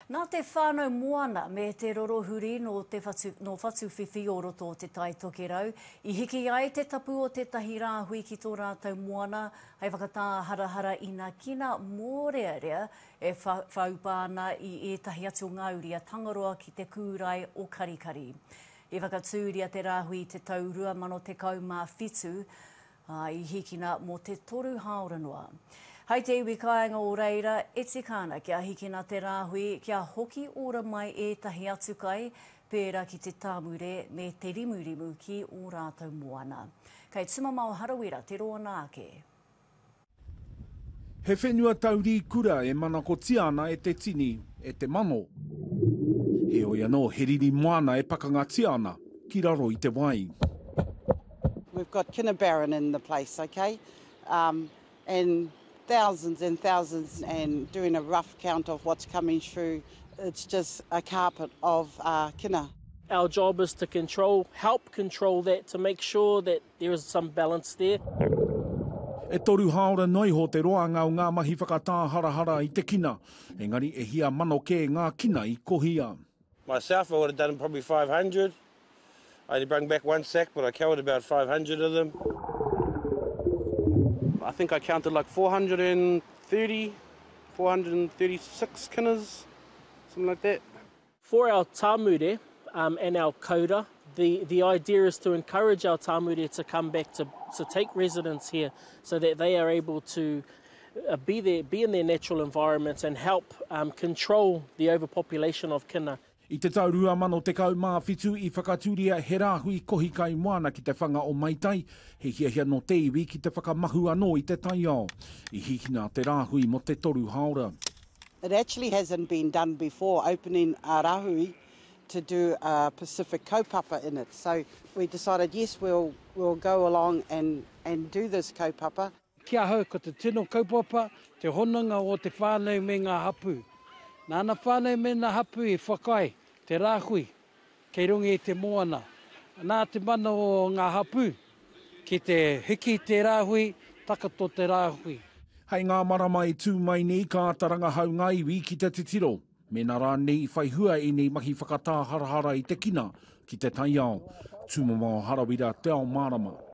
Nā te whānau moana me te rorohuri nō te whatu, nō Whatuwhiwhi o roto o Te Tai Tokerau, i hiki ai te tapu o tētahi rāhui ki tō rātou moana hei whakatāharahara inakina mōrearea e wha, whaupa ana i ētahi atu o ngā uri a Tangaroa ki te kūrae o Karikari. I whakatūria te rāhui i te tau 2017, Ā, i hikina mō te toru hāora noa. Hai te iwi kāinga o reira, e tika ana kia hikina te rāhui, kia hoki ora mai ētahi atu kai, pērā ki te tāmure me te rimurimu ki ō rātou moana. Kei Tumamao Harawira te roanga ake. He whenua taurī kura e manakotia ana e te tini, e te mano. Heoi anō, he riri moana e pakangatia ana ki raro i te wai. We've got Kinnibarron in the place, ok, um, and thousands and thousands and doing a rough count of what's coming through, it's just a carpet of uh, kina. Our job is to control, help control that to make sure that There is some balance there. E toru hāora noa iho te roanga o ngā mahi whakatāharahara i te kina, engari e hia mano kē ngā kina i kohia. Myself, I would have done probably 500. I only brung back one sack, but I covered about 500 of them. I think I counted like 430, 436 kinas, something like that. For our Tamure um and our Koura, the the idea is to encourage our Tamure to come back to to take residence here so that they are able to uh, be there, be in their natural environments and help um, control the overpopulation of kina. I te tau 2017 i whakatūria he rāhui kohi kai moana ki te whanga o Maitai, he hiahia nō te iwi ki te whakamahu anō i te taiao. I hikina te rāhui mō te toru hāora. It actually hasn't been done before, opening a rahui to do a Pacific kaupapa in it. So we decided, yes, we'll, we'll go along and, and do this kaupapa. Ki ahau, ko te tino kaupapa, te hononga o te whānau me ngā hapū. Nā ana whānau me ana hapū i whakaae te rāhui Kei runga i te moana. Nā te mana o ngā hapū ki te hiki i te rāhui, takoto te rāhui. Hei ngā marama e tū mai nei ka āta rangahau ngā iwi ki te titiro, mēnā rānei i whai hua ēnei mahi whakatāharahara i te kina ki te taiao. Tūmamao Harawira, Te Ao Mārama.